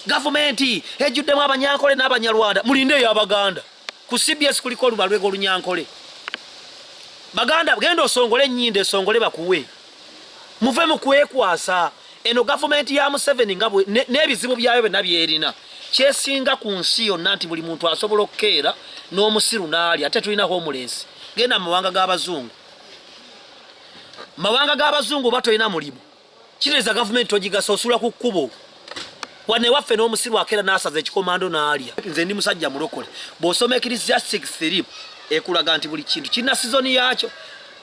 Gavumenti ejjuddemu abanyankole n'abanyarwanda mulinde eyo abaganda ku cbs kuliko olubalwega olunyankole baganda genda osongole enyindo esongole bakuwe muve mu kwekwasa eno gavumenti ya museveni nga n'ebizibu byayo byonna byerina kyesinga ku nsi yonna nti buli muntu asobola okukeera n'omusiru n'ali ate tulina homulensi genda mu mawanga g'abazungu mawanga g'abazungu oba tolina mulimu kireza gavumenti togigasa osula ku kkubo wane waffe n'omusiru akeera n'asaza ekikomando n'alya nze ndi musajja mulokole bw'osoma ekirisiya 63 ekulaga nti buli kintu kirina sizoni yaakyo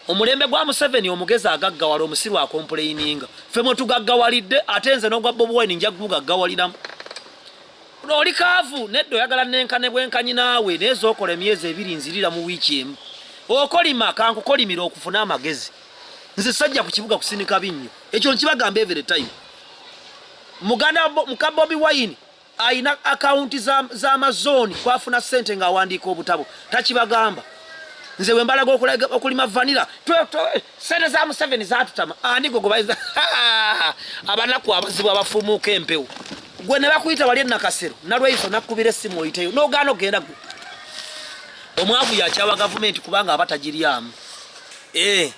omulembe gwa museveni omugezi agaggawala omusiru akompuleyininga ffe mwe tugaggawalidde ate nze n'ogwa bobi wine nja kugugaggawaliramu oli kaavu nedda oyagala nenkane bwenkanyi naawe naye zookola emyezi ebiri nzirira mu wiiki emu okolima kankukolimira okufuna amagezi nze sajja ku kibuga kusinika binnyo ekyo nkibagamba every time muganda muka bobi wine alina akawunti z'amazooni za kwafuna ssente ng'awandiika obutabo takibagamba nze we mbalaga okulima vanira sente za museveni zatutama ani gwe gwebayiza abanaku abazibu abafumuuka empewo gwe ne bakuyita wali enakasero nalweiso nakubira essimu oyiteyo nogaana ogenda gwe omwavu yakyawa gavumenti kubanga aba tagiryamu Eh,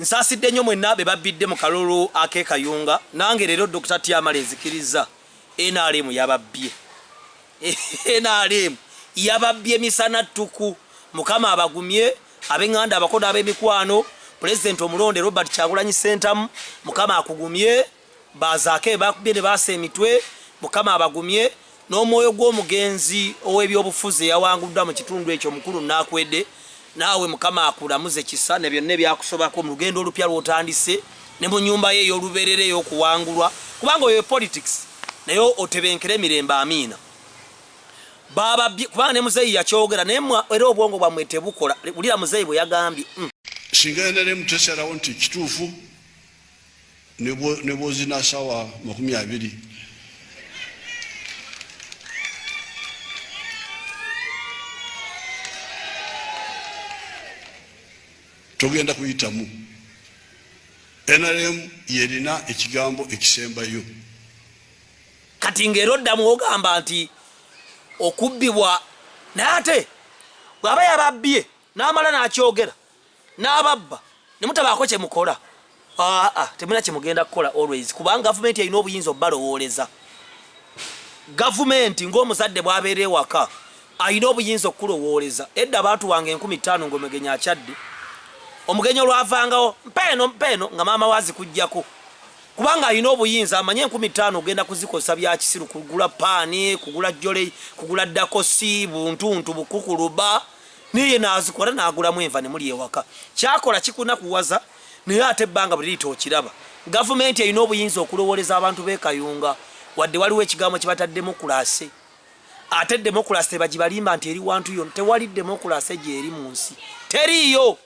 nsasidde nnyo mwenna be babbidde mu kalulu ak'e Kayunga. Nange leero Dokita Tyamala ezikirizza NRM yababbye. NRM yababbye misana ttuku. Mukama abagumye ab'enganda abako n'ab'emikwano. Pulezidenti omulonde Robert Kyagulanyi Ssentamu, Mukama akugumye. Bazaake be bakubye ne baasa emitwe, Mukama abagumye, n'omwoyo gw'omugenzi ow'ebyobufuzi eyawanguddwa mu kitundu ekyo Mukulu Nakwede naawe Mukama akulamuze kisa ne byonna ebyakusobako mu lugendo olupya lw'otandise ne mu nnyumba ye ey'olubeerera ey'okuwangulwa kubanga oyo politics naye otebenkere emirembe amiina bababye kubanga ne muzeeyi yakyogera naye era obwongo bwammwe tebukola wulira muzeeyi bwe yagambye mm. singa nrm tesalawo nti kituufu ne bwozina sawa makumi abiri togenda kuyitamu nrm yerina ekigambo ekisembayo kati ngaera oddamu ogamba nti okubbibwa naye ate bw'aba yababbye n'amala n'akyogera n'ababba ne mutabaako kye mukola aa temulina kye mugenda kukola always kubanga gavumenti erina obuyinza obubalowooleza gavumenti ng'omuzadde bw'abeera ewaka alina obuyinza okukulowooleza edda abantu wange enkumi ttaano ng'omugenyi akyadde omugenyi olwavangawo mpeeno mpeeno nga maama waazi kujjako kubanga alina obuyinza amanye enkumi ttaano ogenda kuzikozesa byakisiru kugula paani kugula jole kugula dakosi buntuntu bukukuluba naye nazikola nagulamu enva ne muli ewaka kyakola kikuna kuwaza naye ate banga bulito okiraba gavumenti erina obuyinza okulowoleza abantu be kayunga wadde waliwo ekigambo kibata demokrasi ate demokrasi tebagibalimba nti eri wantu yona tewali demokrasi gyeri mu nsi teriiyo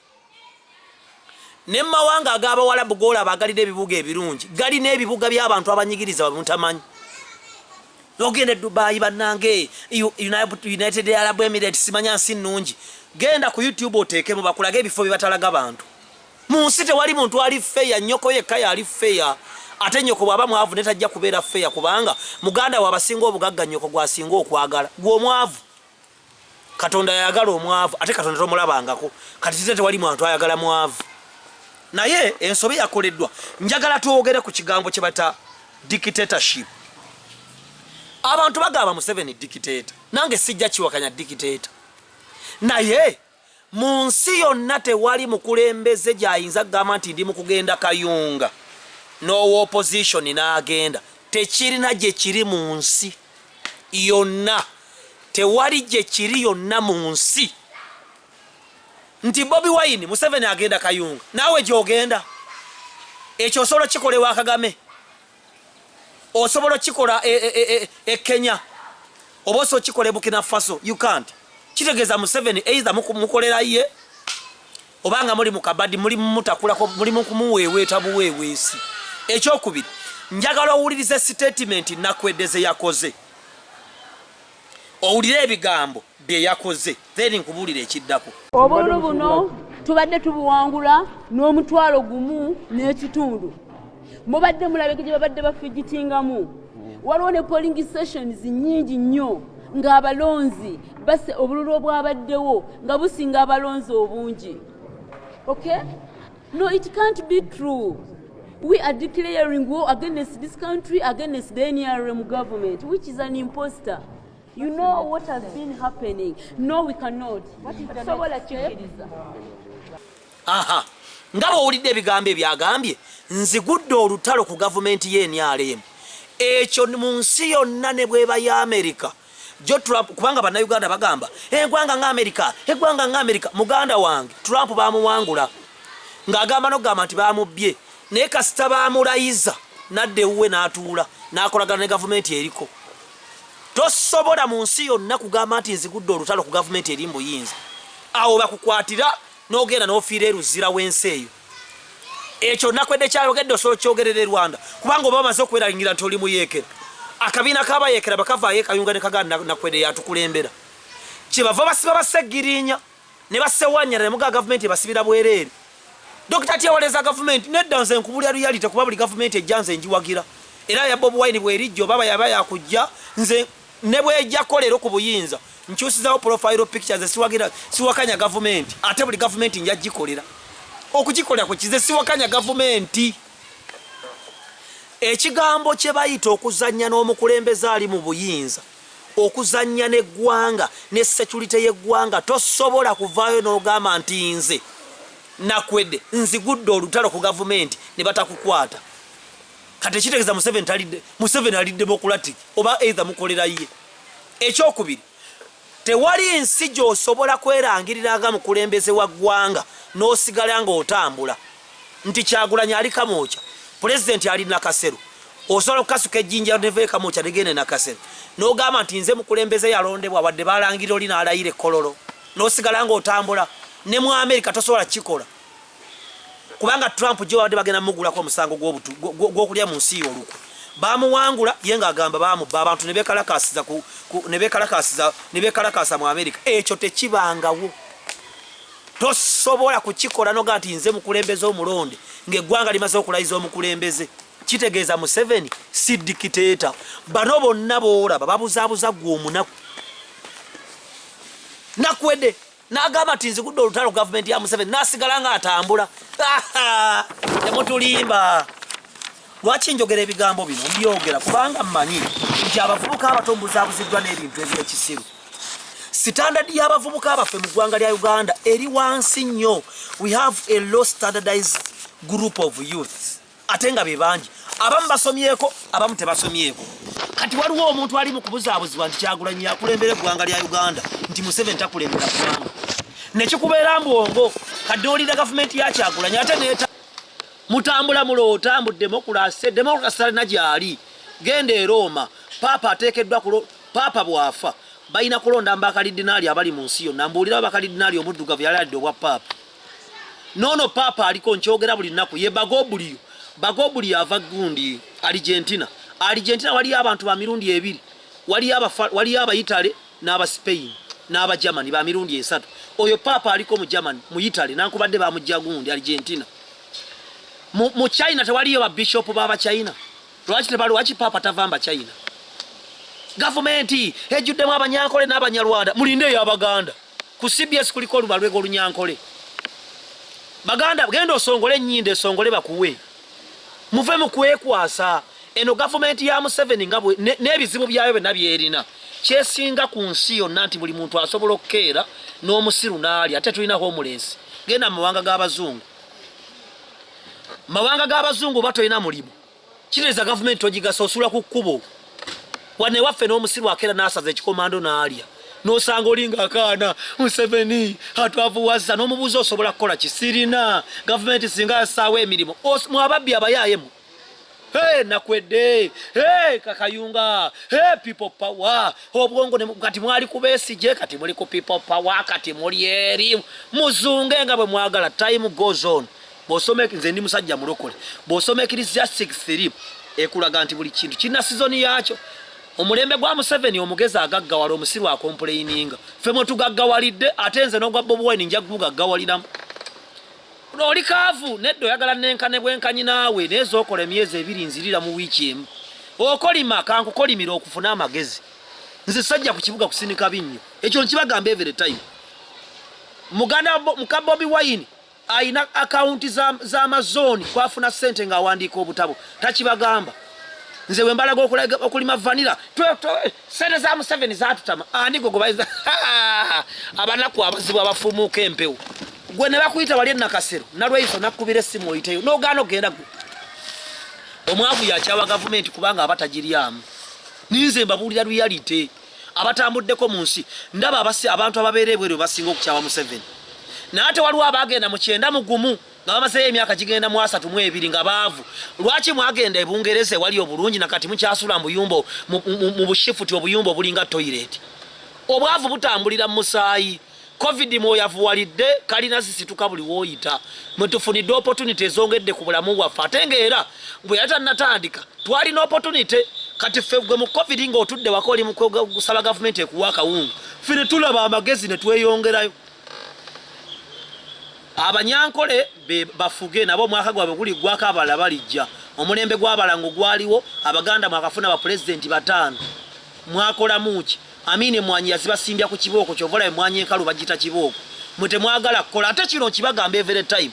ne mu mawanga ag'abawalabu g'olaba agalina ebibuga ebirungi galina ebibuga by'abantu abanyigiriza babutamanyi nogenda e dubayi bannange united arab emirates simanya nsi nnungi genda ku youtube oteekemu bakulage ebifo bye batalaga bantu mu nsi tewali muntu ali feya nyoko yekka yali feya ate nyoko bwaba mwavu netajja kubeera feya kubanga muganda we abasinga obugagga nyoko gwasinga okwagala gwe omwavu katonda yayagala omwavu ate katonda tomulabangako kati kize tewali mwantu ayagala mwavu naye ensobi yakoleddwa njagala twogere ku kigambo kyebata dictatorship abantu bagamba museveni dictator nange sijja kiwakanya dictator naye Mu nsi yonna tewali mukulembeze gy'ayinza kugamba nti ndi mu kugenda Kayunga n'owa opozishoni n'agenda. Tekirina gye kiri mu nsi yonna, tewali gye kiri yonna mu nsi nti Bobi Wine Museveni agenda Kayunga naawe gy'ogenda. Ekyo osobola kikola ewa Kagame. osobola okikola e, e, e, e kenya oba osobola okikola ebukina faso you can't kitegeeza museveni either mukolera ye obanga muli mukabadi muli mumutakulako muli mukumuweeweeta buweeweesi ekyokubiri njagala owulirize sitatimenti nakwedeze yakoze owulire ebigambo bye yakoze then nkubuulire ekiddako obululu buno tubadde tubuwangula n'omutwalo gumu n'ekitundu mubadde mulabeke gye babadde bafigitingamu waliwo ne polling sessions nyingi nnyo ng'abalonzi base obululu obwabaddewo nga businga abalonzi obungi okay No, it can't be true. We are declaring war against this country, against the NRM government, which is an imposter. You know what has been happening. No, we cannot. What is the Sobola kikiriza. Aha. Ndaba owulidde ebigambo ebyagambye nzigudde olutalo ku gavumenti y'e NRM. Ekyo mu nsi yonna ne bweba ya Amerika. jo Trump kubanga bannayuganda bagamba egwanga nga Amerika egwanga nga Amerika muganda wange Trump bamuwangula ng'agamba nokugamba nti bamubbye naye kasita bamulayiza nadda ewuwe n'atuula n'akolagana ne gavumenti eriko tosobola mu nsi yonna kugamba nti nzigudde olutalo ku gavumenti eri mbuyinza awo bakukwatira n'ogenda n'ofiira eruzira w'ensi eyo ekyo nakwedde kyayogedde osobola okyogerera e rwanda kubanga oba bamaze okwerayingira nti oli muyeekera akabiina kabayeekera bakavaayo ekayunga ne kaganda nakwedde yatukulembera kyebava basiba baseggirinya ne basewanyana ne muga gavumenti ebasibira bwereere dokita tyewaleza gavumenti nedda nze nkubulya luyalite kuba buli gavumenti ejja nze njiwagira era yabba obuwaini bwerijja oba bayaba yakujja nze ne bwejako leero ku buyinza nkyusizawo profile picture ze siwagira siwakanya gavumenti ate buli gavumenti nja gikolera okugikolera ku kize siwakanya gavumenti ekigambo kye bayita okuzannya n'omukulembeze ali mu buyinza okuzannya n'eggwanga ne securite y'eggwanga tosobola kuvaayo n'ogamba nti nze nakwede nzigudde olutalo ku gavumenti ne batakukwata kati ekitegeeza museveni talidde museveni alidde bokulati oba eitha mukolera ye ekyokubiri tewali nsi gyosobola kwerangirira nga mukulembeze wa ggwanga n'osigala nga otambula nti kyagulanyi ali kamwokya pulezidenti ali nakasero osobola okukasuka ejjinja neve kamwokya negende nakasero n'ogamba nti nze mukulembeze yalondebwa wadde balangirira oli naalayira ekkololo n'osigala nga otambula ne mu amerika tosobola kukikola kubanga Trump gye babadde bagenda mugulako omusango gw'okulya mu nsi y'olukwe bamuwangula ye ng'agamba bamubba abantu ne beekalakaasiza mu amerika ekyo tekibangawo tosobola kukikola noga nti nze mukulembeze omulonde ng'eggwanga limaze okulayiza omukulembeze kitegeeza museveni si dikiteeta bano bonna boolaba babuzaabuza gwe omunaku nakwede n'agamba nti nzigudde olutalo gavumenti ya museveni n'asigala nga atambula temutulimba lwaki njogera ebigambo bino mbyogera kubanga mmanyi nti abavubuka abato mubuzaabuziddwa n'ebintu ebyekisiru sitandadi y'abavubuka baffe mu ggwanga lya uganda eri wansi nnyo we have a low standardized group of youths ate nga be bangi abamu basomyeko abamu tebasomyeko kati waliwo omuntu ali mu kubuzaabuzibwa nti kyagulanyi yakulembera eggwanga lya uganda nti museveni takulembera ggwanga nekikubeera mbwongo kadde olira gavumenti ya kyagulanyi ate neta mutambula muloota mbu demokulase demokulasi talina gyali genda erooma paapa ateekeddwa kulo paapa bwafa balina kulonda mu bakalidinaali abali mu nsi yonna mbuulirawo bakalidinaali omuddugavu yali adde obwa paapa nono papa aliko nkyogera buli nnaku ye bagobuliyo bagobuliyo ava gundi argentina argentina waliyo abantu ba mirundi ebiri waliyo abaitale n'aba spain n'aba germany ba mirundi esatu oyo papa aliko mu germany mu itale nankubadde bamujja gundi argentina mu china tewaliyo babishopu baba china lwaki tebalwaki papa tavamba china gavumenti ejjuddemu abanyankole n'abanyarwanda mulinde eyabaganda ku cbs kuliko olubalwe golunyankole baganda genda osongole enyindo esongole bakuwe muve mukwekwasa eno gavumenti ya museveni nga n'ebizibu byayo byonna byerina kyesinga ku nsi yonna nti buli muntu asobola okukeera n'omusiru n'ali ate tulina homulensi genda mu mawanga g'abazungu mawanga g'abazungu oba tolina mulimu Kitegeeza gavumenti togigasa osula ku kkubo. Wano ewaffe n'omusiru akeera n'asaza ekikomando n'alya. N'osanga olinga akaana Museveni atwavuwazza n'omubuuza osobola kukola ki? Sirina gavumenti singa yassaawo emirimu mu ababbi abayaayemu. Hey, nakwedde hey, kakayunga hey, people power obwongo ne, kati mwali kubesigye kati muli ku people power kati muli eri muzunge nga bwe mwagala time goes on bwosoma nze ndi musajja mulokole bwosoma ekirizia 63 ekulaga nti buli kintu kirina sizoni yaakyo omulembe gwa museveni omugezi agaggawala omusiru akompuleyininga fe mwe tugaggawalidde ate nze n'ogwa bobi wine nja gugaggawaliramu oli kaavu nedda oyagala nenkane bwenkanyi naawe naye zokola emyezi ebiri nzirira mu wiiki emu okolima kankukolimira okufuna amagezi nze sajja ku kibuga kusindika binnyo ekyo nkibagamba every time muganda muka bobi wine Alina akawunti z'amazooni za kwafuna ssente ng'awandiika obutabo takibagamba. Nze bwe mbalaga okulima vanira ssente za Museveni zatutama ani gwe gwebayiza abanaku abazibu abafumuuka empewo gwe ne bakuyita wali enakasero nalweyiso nakubira essimu oyiteyo n'ogaana okugenda gwe omwavu yakyawa gavumenti kubanga aba tagiryamu ninze mbabuulira luyalite abatambuddeko mu nsi ndaba abasi abantu ababeera ebweru basinga okukyawa museveni naye ate waliwo abaagenda mu kyenda mu gumu nga bamazeeyo emyaka gigenda mu asatu mu ebiri nga baavu lwaki mwagenda ebungereza ewali obulungi nakati mukyasula mubuyumba mu bushifuti obuyumba obulinga toyireti obwavu butambulira mu musaayi covid mwoyavuwalidde kalina zisituka buli woyita mwetufunidde opportunity ezongedde ku bulamu bwaffe ate nga era bwe yali tannatandika twalina opportunity kati ffe gwe mu covid nga otudde waka oli mukusaba gavumenti ekuwa akawungu ffe ne tulaba amagezi ne tweyongerayo abanyankole bafuge nabo omwaka gwabwe guli gwako abalala balijja omulembe gwabalango gwaliwo abaganda mwakafuna bapulezidenti bataano mwakolamuki Amini emwanyi yazibasimbya ku kibooko kyova olaba emwanyi enkalu bagita kibooko mwe temwagala kukola ate kino nkibagamba every time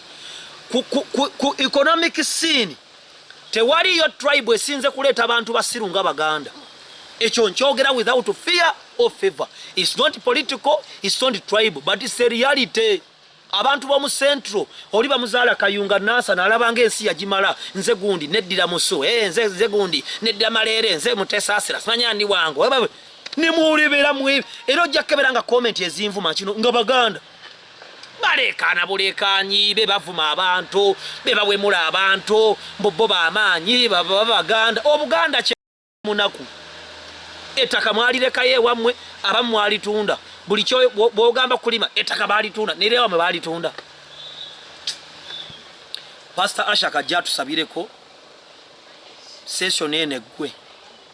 ku, ku, ku, ku economic scene tewaliyo tribe esinze kuleeta bantu basiru nga baganda ekyo nkyogera without fear or favor its not political its not tribe but its a reality abantu b'omu central oli bamuzaala kayunga nasa nalaba nga ensi yagimala nze gundi neddira musu e, nze, nze gundi neddira maleere nze mutesasira simanya ndi wange nemuwulibera mwe era ojja kukebera nga komenti ezinvuma kino nga baganda baleekaana buleekaanyi be bavuma abantu be bawemula abantu mbu bo bamaanyi baba baganda obuganda munaku ettaka mwalirekayo ewammwe abamu mwalitunda buli kyo bwogamba kulima ettaka balitunda nera ewammwe balitunda pasita ashaka ajja atusabireko session eno eggwe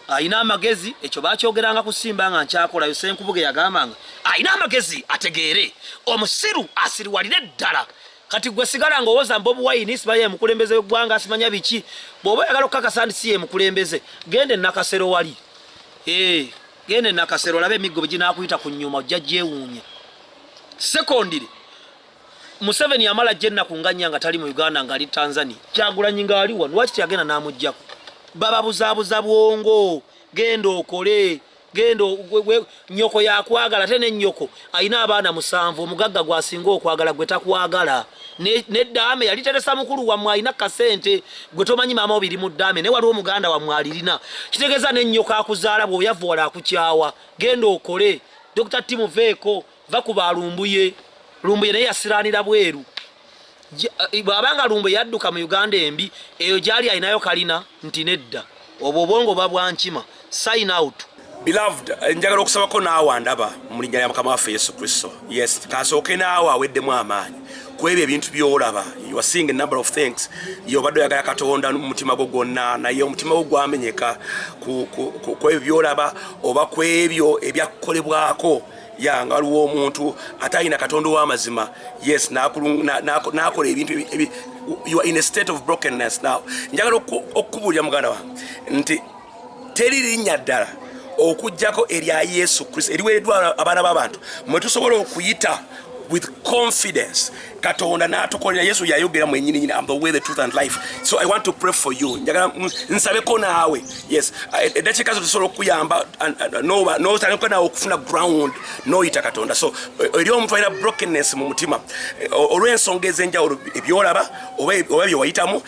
alina amagezi ekyo bakyogeranga kusimba nga nkyakolayo senkubuge yagambanga alina amagezi ategeere omusiru asiriwalire ddala kati gwe sigala nga owoza mbobu wayini simanya yemukulembeze wegwanga simanya biki bwoba oyagala okukakasa nti si yemukulembeze genda enakasero wali eh, genda enakasero olabe emiggo beginakuyita ku nyuma ojja gyewuunya sekondire museveni yamala jja ennaku nganya nga tali mu uganda ngaali tanzania kyagulanyi ngaali wano lwaki teyagenda namujjako bababuzaabuza bwongo genda okole genda nyoko yakwagala ate nenyoko alina abaana musanvu omugagga gwasinga okwagala gwe takwagala nedaame yali teresa mukulu wamwe alina kasente gwe tomanyi maama obiri mu daame naye waliwo omuganda wamwe alirina kitegeeza nenyoko akuzaala bweoyava wala akukyawa genda okole dr timuveeko va ku ba lumbuye lumbuye naye yasiraanira bweru eh, bw'aba nga lumbuye yadduka mu uganda embi eyo gyali alinayo kalina nti nedda obwo obwongo ba bwankima sign out beloved eh, njagala okusabako naawe andaba mu linnya lya mukama waffe yesu kristo yes kasooke naawe aweddemu amaanyi kwebyo ebintu byolaba you are seeing a number of things yobadde oyagala katonda mumutima gwo gwonna naye omutima gwo gwamenyeka kwebyo byolaba oba kwebyo ebyakukolebwako ya nga waliwo omuntu atalina katonda ow'amazima yes n'akola ebintu you are in a state of brokenness now njagala okukubuulira muganda wange nti teri linnya ddala okujjako erya yesu kristo eriweereddwa abaana b'abantu mwe tusobola okuyita with confidence katonda natukolera yesu yayogera mwenyini nyini am the way the truth and life so i want to pray for you njagala nsabeko naawe yes eddakiika zo tusobola okukuyamba notaniko naawe okufuna ground noyita katonda so e, eri omuntu alina brokenness mu mutima e, olw'ensonga ez'enjawulo ebyolaba oba byewayitamu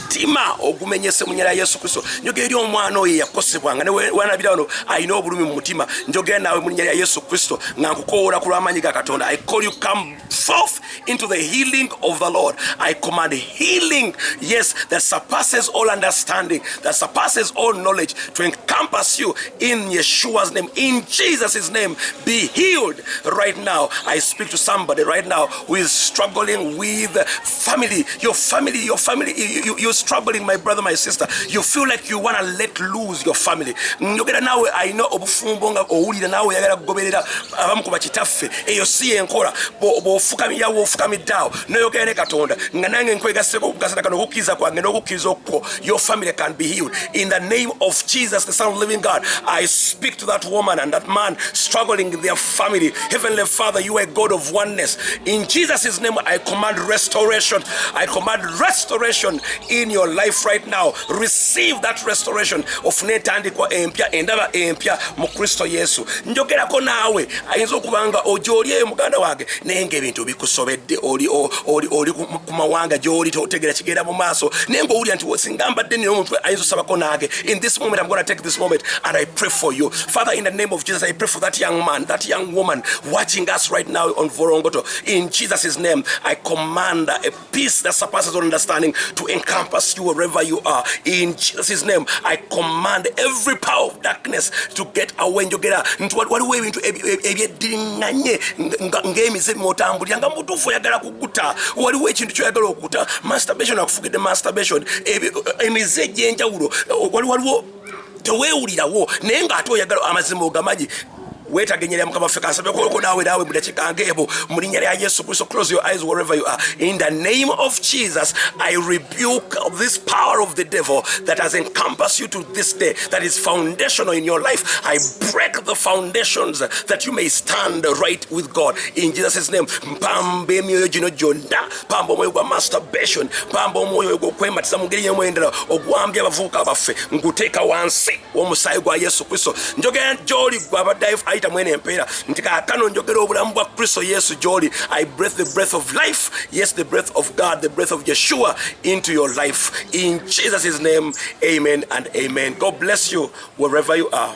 omutima ogumenyese mu nyala yesu kristo njogera eri omwana oyo eyakosebwa nga newanabira wano alina obulumi mu mutima njogera naawe mu linya lya yesu kristo nga nkukowoola ku lw'amaanyi ga katonda i call you come forth into the healing of the lord i command healing yes that surpasses all understanding that surpasses all knowledge to encompass you in yeshua's name in jesus' name be healed right now i speak to somebody right now who is struggling with family, your family, your family, you, you, you're struggling, my brother, my sister. You feel like you want to let lose your family. Njogera nawe alina obufumbo nga owulira nawe yagala kugoberera abamu ku bakitaffe eyo si yenkola bw'ofukamira w'ofukamidde awo n'oyogera ne Katonda nga nange nkwegaseko okukasana kano okukkiriza kwange n'okukkiriza okukwo Your family can be healed. In the name of Jesus, the Son of the Living God, I speak to that woman and that man struggling in their family. Heavenly Father, you are a God of oneness. In Jesus' name, I command restoration. I command restoration in your life right now. Receive that restoration. ofune entandikwa empya endaba empya mu kristo yesu njogerako naawe ayinza okuba nga ojoolyeyo muganda wange naye nga ebintu bikusobedde oli ku mawanga gy'oli totegera kigenda mu maaso naye ng'owulira nti singa mbadde nina omuntu ayinza osabako naage in this moment i'm gonna take this moment and i pray for you father in the name of jesus i pray for that young man that young woman watching us right now on vorongoto in jesus' name i command a peace that surpasses all understanding to encompass you wherever you are in jesus' name i command every power of darkness to get away njogera nti waliwo ebintu ebyeddiringanye ng'emize mwotambulira nga mutuufu oyagala okukuta waliwo ekintu kyoyagala okukuta masturbation akufugidde masturbation emize egyenjawulo wali waliwo tewewulirawo naye ngaate oyagala amazima ogamanyi wetagenyera mukama ffe kasabe koko nawe nawe mudakika ngebo mulinya lya yesu kristo close your eyes wherever you are in the name of jesus i rebuke this power of the devil that has encompassed you to this day, that is foundational in your life. I break the foundations that you may stand right with God. In Jesus' name, mpamba emyoyo gino gyonna mpamba omwoyo gwa masturbation mpamba omwoyo ogw'okwematiza mu ngeri y'emu endala ogwambya abavubuka baffe nkuteeka wansi w'omusaayi gwa yesu kristo njogera gy'oli gwe abadde ayita mwene empeera nti kaakano njogera obulamu bwa kristo yesu gy'oli i breath the breath of life yes the breath of god the breath of yeshua into your life in jesus' name amen and amen god bless you wherever you are